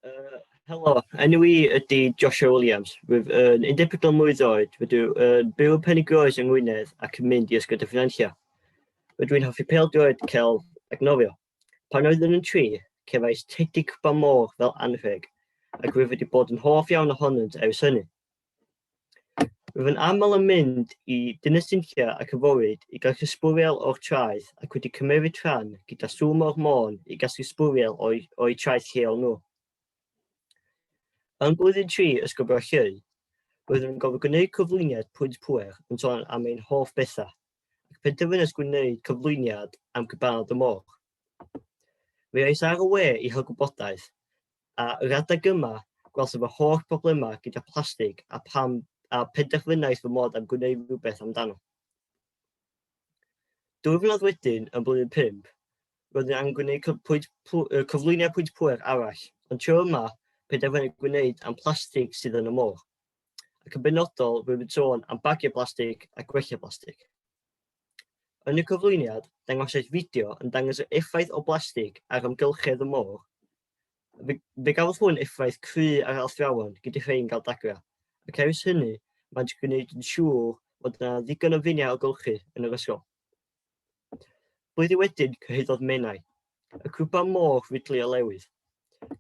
Uh, helo, enw i ydy Joshua Williams. Rwyf yn 14 mlwydd oed, wedi yn byw yn Penygroes yng Ngwynedd ac yn mynd i ysgol y ffynanllia. Rydw i'n hoffi pel droed, celf ac nofio. Pan oeddwn yn tri, cefais tedi cwpan môr fel anrheg, ac rwyf wedi bod yn hoff iawn ohonynt ers hynny. Rwy'n aml yn mynd i Dinas Dinllew ac yn fywyd i gael hysbwriel o'r traeth ac wedi cymmeryd rhan gyda Swm o'r Môn i gasglu sbwriel o'u, o'u traeth lleol nhw. Yn blwyddyn tri Ysgol Bralleu, roedd yn gofio gwneud cyflwyniad pwynt pwer yn sôn am ein hoff bethau, ac penderfynais gwneud cyflwyniad am gybarod y môr. Fe ais ar y we i hel gwybodaeth, A yr adeg yma, gwelsom fy holl broblemau gyda plastig a, pam, a penderfynais fy mod am gwneud rhywbeth amdano. Dwy flynedd wedyn, yn blwyddyn 5, roedd yn angen gwneud pwynt, cyflwyniad pwynt pwer arall, ond tro yma, penderfynu gwneud am plastig sydd yn y môr. Ac yn benodol, rwyf yn sôn am bagiau plastig a gwella plastig. Yn y cyflwyniad, dangosais fideo yn dangos yr effaith o blastig ar amgylchedd y môr Fe, fe gafodd hwn effaith cry ar athrawon, gyda rhai'n cael dagrau, ac ers hynny, maent gwneud yn siŵr fod yna ddigon o finiau o golchi yn yr ysgol. Blwyddyn wedyn, cyhoeddodd Menai, y grwpa môr fudlu o lewydd.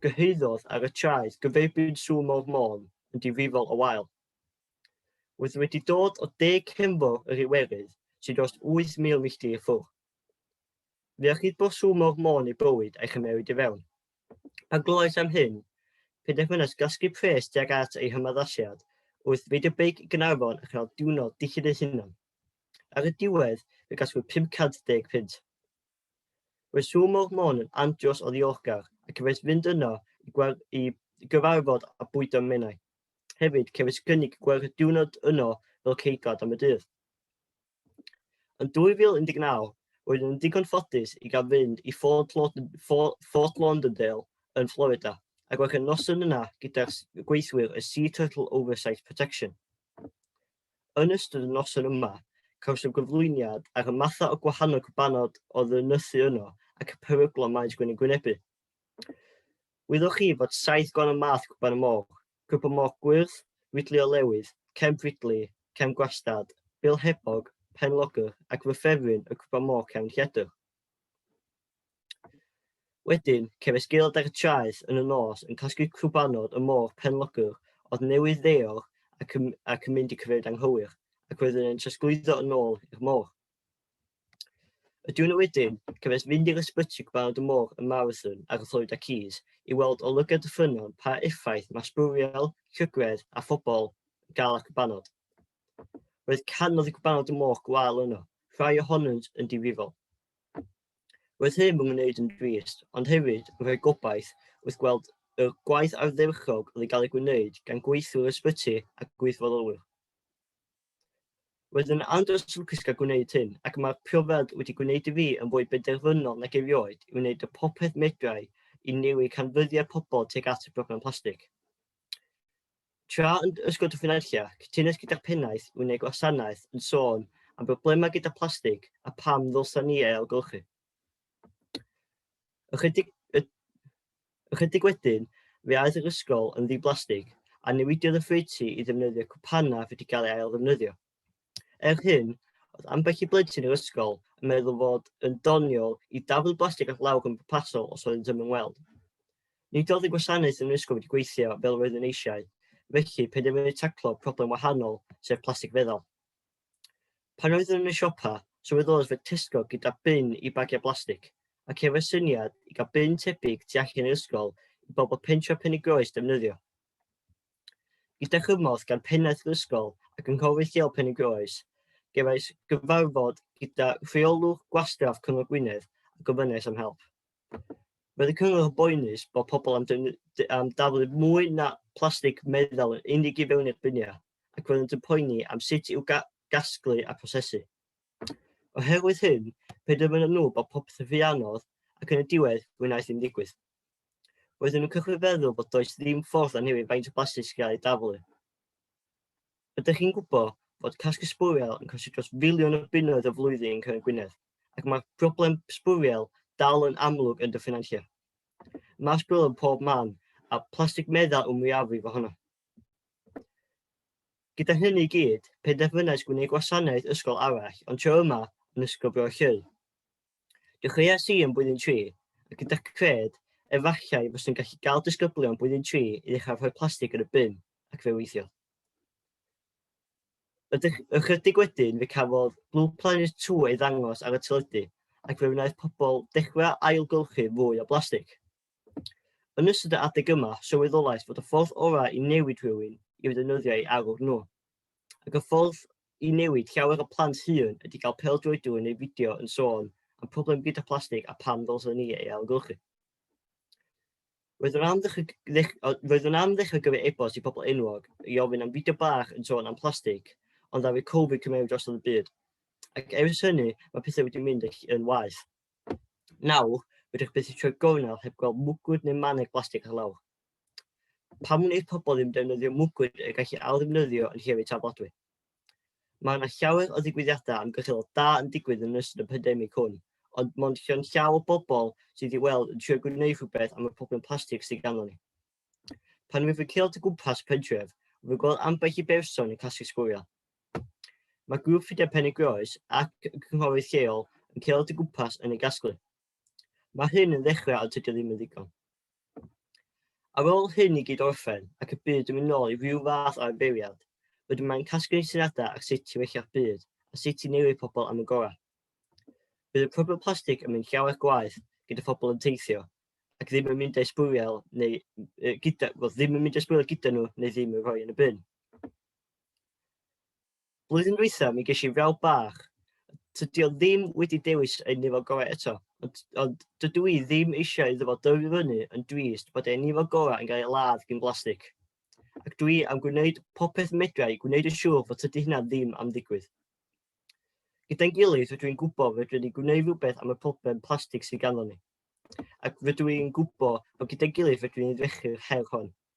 Gyhoeddodd ar y traeth gyferbyn sŵ mor môn yn difrifol o wael. Roedd wedi dod o deg cefnfor yr Iwerydd, sy'n dros 8,000 milltir i ffwrdd. Fe allid bosu mor mân ei bywyd a'i chymmeryd i fewn. Pan glywais am hyn, penderfynas gasglu pres tuag at ei hymaddasiad wrth reidio beic i Gaernarfon a chael diwrnod dillad ei hunan. Ar y diwedd, fe gasglwyd 50 punt. Roedd Sŵ Môr Môn yn andros o ddiolchgar ac cefais fynd yno i, i gyfarfod a bwydo menai. Hefyd, cefais gynnig gwerth y diwrnod yno fel ceidwad am y dydd. Yn 2019, roeddwn yn ddigon ffodus i gael fynd i Fort, Lauderdale, Fort Lauderdale yn Florida ac roedd y noson yna gyda'r gweithwyr y Sea Turtle Oversight Protection. Yn ystod y noson yma, cawsom gyflwyniad ar y mathau o gwahanol cybanod oedd yn nythu yno ac y peryglon maent gwne'n gwynebu. Wyddoch chi fod saith gwahanol math cwpan y moch, cwpan moch gwyrdd, widli o lewydd, cemp widli, cemp gwastad, bil hebog, pen logr ac fy ffefryn y cwpan moch cefn lledr. Wedyn, cefais gaelod ar y traeth yn y nos yn casglu cwpanod y moch pen logr oedd newydd ddeor ac yn, ac yn mynd i cyfeiriad anghywir, ac wedyn yn trosglwyddo yn ôl i'r moch. Y diwrnod wedyn, cefais fynd i'r ysbyty gweld y môr ym Marathon ar y Florida Keys i weld o lygaid y ffynnon pa effaith mae sbwriel, llygredd a phobl yn cael ar gwpanod. Roedd canoedd y gwpanod y môr gwael yno, rhai ohonynt yn difrifol. Roedd hyn yn gwneud yn drist, ond hefyd yn rhoi gobaith wrth gweld y gwaith ardderchog oedd yn cael ei gwneud gan gweithwyr ysbyty a gweithfodolwyr. Roedd yn andros lwcus gael gwneud hyn, ac mae'r profiad wedi gwneud i fi yn fwy benderfynol nag erioed i wneud y popeth medrai i newid canfyddiad pobl tuag at y broblem plastig. Tra yn Ysgol Dyffryn Nantlle, cytunais gyda'r pennaeth i wneud gwasanaeth yn sôn am broblemau gyda plastig a pam ddylsa ni ei ailgylchu. Ychydig, ychydig wedyn, fe aeth yr ysgol yn ddi-blastig a newidiodd y ffreutu i ddefnyddio cwpanna fe wedi cael ei ail ddefnyddio. Er hyn, oedd ambell i blentyn yr ysgol yn meddwl fod yn doniol i daflu blastig at lawr yn bwrpasol os oedd yn ddim yn weld. Nid oedd y gwasanaeth yn yr ysgol wedi gweithio fel roedd yn eisiau, felly penderfynu taclo problem wahanol, sef plastig feddal. Pan oeddwn yn y siopa, sylweddolais fod Tesco gyda bin i bagiau blastig, ac efo'r syniad i gael bin tebyg tu allan i'r ysgol i bobl pentref Penygroes ddefnyddio. Gyda chymorth gan pennaeth yr ysgol a gynghorydd lleol Penygroes, gefais gyfarfod gyda rheolwr gwastraff Cyngor Gwynedd a gofynnais am help. Roedd y cyngor yn boenus bod pobl am, am daflu mwy na plastig meddal yn unig i fewn i'r biniau ac roeddent yn poeni am sut i'w ga gasglu a prosesu. Oherwydd hyn, penderfynon nhw bod popeth yn ffianodd ac yn y diwedd wnaeth ddim digwydd. Roedden nhw'n cychwyn feddwl bod does ddim ffordd anhewid faint o blastig sy'n cael ei daflu. Ydych chi'n gwybod fod casglu sbwriel yn costi dros filiwn o bunnoedd y flwyddyn yn Cyngor Gwynedd, ac mae'r broblem sbwriel dal yn amlwg yn dy ffenantiau? Mae sbwriel yn pob man, a plastig meddal yw'r mwyafrif ohono. Gyda hynny i gyd, penderfynais gwneud gwasanaeth ysgol arall, ond tro yma yn Ysgol Bro Llŷn. Dechreuais i yn blwyddyn 3, a gyda cred, efallai fyswn gallu gael disgyblion blwyddyn 3 i ddechrau rhoi plastig yn y bin, ac fe weithiodd. Ychydig wedyn fe cafodd Blue Planet 2 ei ddangos ar y teledu ac fe wnaeth pobl dechrau ailgylchu fwy o blastig. Yn ystod y adeg yma, sylweddolais fod y ffordd orau i newid rhywun yw ddefnyddio ei arwr nhw. Ac y ffordd i newid llawer o plant hŷn ydy cael pêl-droedwr yn ei fideo yn sôn am problem gyda plastig a pam ddylsen ni ei ailgylchu. Roedd yn amddiffyg o gyfer e-bost i bobl enwog i ofyn am fideo bach yn sôn am plastig, ond ddaw Covid cymeru drosodd y byd. Ac ers hynny, mae pethau wedi mynd yn waeth. Nawr, rydych byth eisiau gornel heb gweld mwgwd neu maneg blastig ar lawr. Pam wneud pobl ddim defnyddio mwgwd y gallu ail-ddefnyddio yn hir eu taflodwy? Mae yna llawer o ddigwyddiadau amgylcheddol da yn digwydd yn ystod y pandemig hwn, ond mond llawn llaw o bobl sydd i weld yn trio gwneud rhywbeth am y problem plastig sydd ganddo ni. Pan wyf yn ceol o gwmpas pentref, wyf yn gweld ambell i berson yn casglu sgwriel. Mae grŵp Ffrindiau Penygroes ac y cynghorydd lleol yn ceol o gwmpas yn ei gasglu. Mae hyn yn ddechrau a tydi o ddim yn ddigon. Ar ôl hyn i gyd orffen ac y byd yn mynd nôl i rhyw fath o arferiad, rydym mae'n casglu syniadau ar sut i wellio'r byd a sut i newid pobl am y gorau. Bydd y problem plastig yn mynd llawer gwaith gyda phobl yn teithio ac ddim yn mynd â'i sbwriel neu uh, gyda, well, ddim yn mynd â'i sbwriel gyda nhw neu ddim yn rhoi yn y bin. Blwyddyn dwytha mi gesh i frawd bach, tydi o ddim wedi dewis ei nifo gorau eto, ond, ond dydw i ddim eisiau iddo fo dyfu fyny yn drist bod ei nifo gorau yn cael ei ladd gyn blastig. Ac dwi am gwneud popeth medra i gwneud yn siŵr fod tydi hynna ddim am ddigwydd. Gyda'n gilydd rydw i'n gwybod fedrwn ni gwneud rhywbeth am y problem plastig sydd ganddo ni. Ac rydw i'n gwybod bod gyda'n gilydd fedrwn ni ddrechu'r her hon.